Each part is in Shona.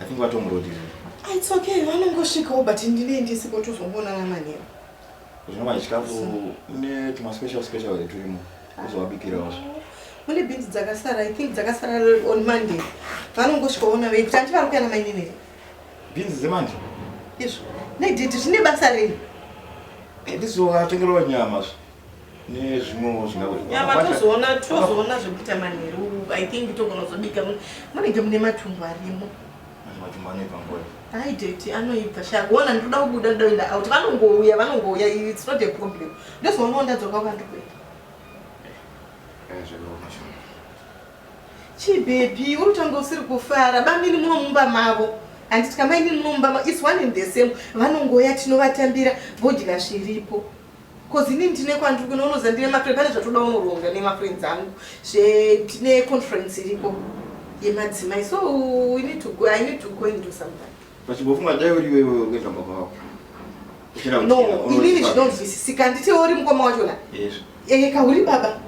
I think vatomurodirira. Ah, it's okay, vanongosvikawo but ndine ndisipo tozongoonana manheru. Zvinova chikafu une tuma special special here turimo kuzovabikirawo zve. Mune bhinzi dzakasara, I think dzakasara on Monday. Vanongosvikaona vei kuti handivari kuya namainini here. Bhinzi dzemanje? Izvo. Nediti zvine basa rei? Ndizovatengerwa nyama zve. nezvimwewo zvingatozoona tozoona zvekuita manheru i think togona kuzobika munenge mune matumbu arimo aideti anoibva shagona ndikuda kubuda ndoda kuenda out vanongouya vanongouya its not a problem ndozoonawo ndadzoka kwandikuenda chibhebhi uri kutanga usiri kufara bamini muno mumba mavo handiti kamaini muno mumba mavo is one in the same vanongoya tinovatambira vodya zviripo Cause ini ndine kwandiri kuno unoziva ndine mafriend pane zvatoda unoronga nemafriends angu zvetine conference iriko yemadzimai so we need to go, I need to go and do something. Pachimbofunga dai uri iwewe uri kuenda baba vako. No, inini zvinonzwisisika handiti uri mukoma wachona? Yes. Eka uri baba.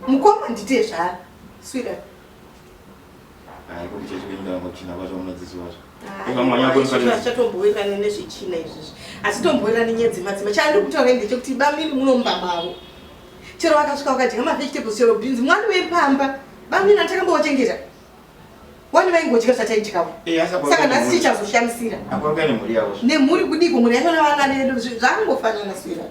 Mukoma ndite zvara. Sweetheart. Hayi kuti church kwenyu kana kuchina kwacho munodzidzisi wacho. Chatombowirirana nezvechina izvizvi. Asi tombowirirana nyaya dzemadzima. Chandi kutaura ndechekuti bamiri munomba mavo. Chero vakasvika vakadya ma vegetables chero beans mwana wepamba. Bamiri antakambowachengeta. Wani vaingodya zvataidyawo. Eh, Saka nhasi chichazoshamisira. Nemhuri kudiko mhuri yacho navana vedu zvangofanana sweetheart.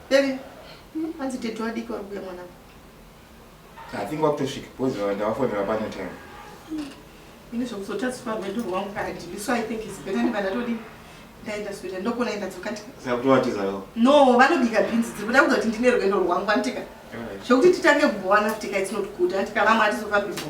Baby, hmm, hanzi tete wadiki vari kuya mwana. I think wakutosvika because ndavafonera pano time. Hmm. Ini zvekuzotadzipa rwendo rwangu kadii. So I think it's better ndiba ndatodii ndaenda sweta ndokona enda dzoka ndikasakutowatizawo no vanobika bhinzi dziri kuda kuda kuti ndine rwendo rwangu vanditika zvekuti titange kubowana futi ka it's not good andikarama atizofambi bho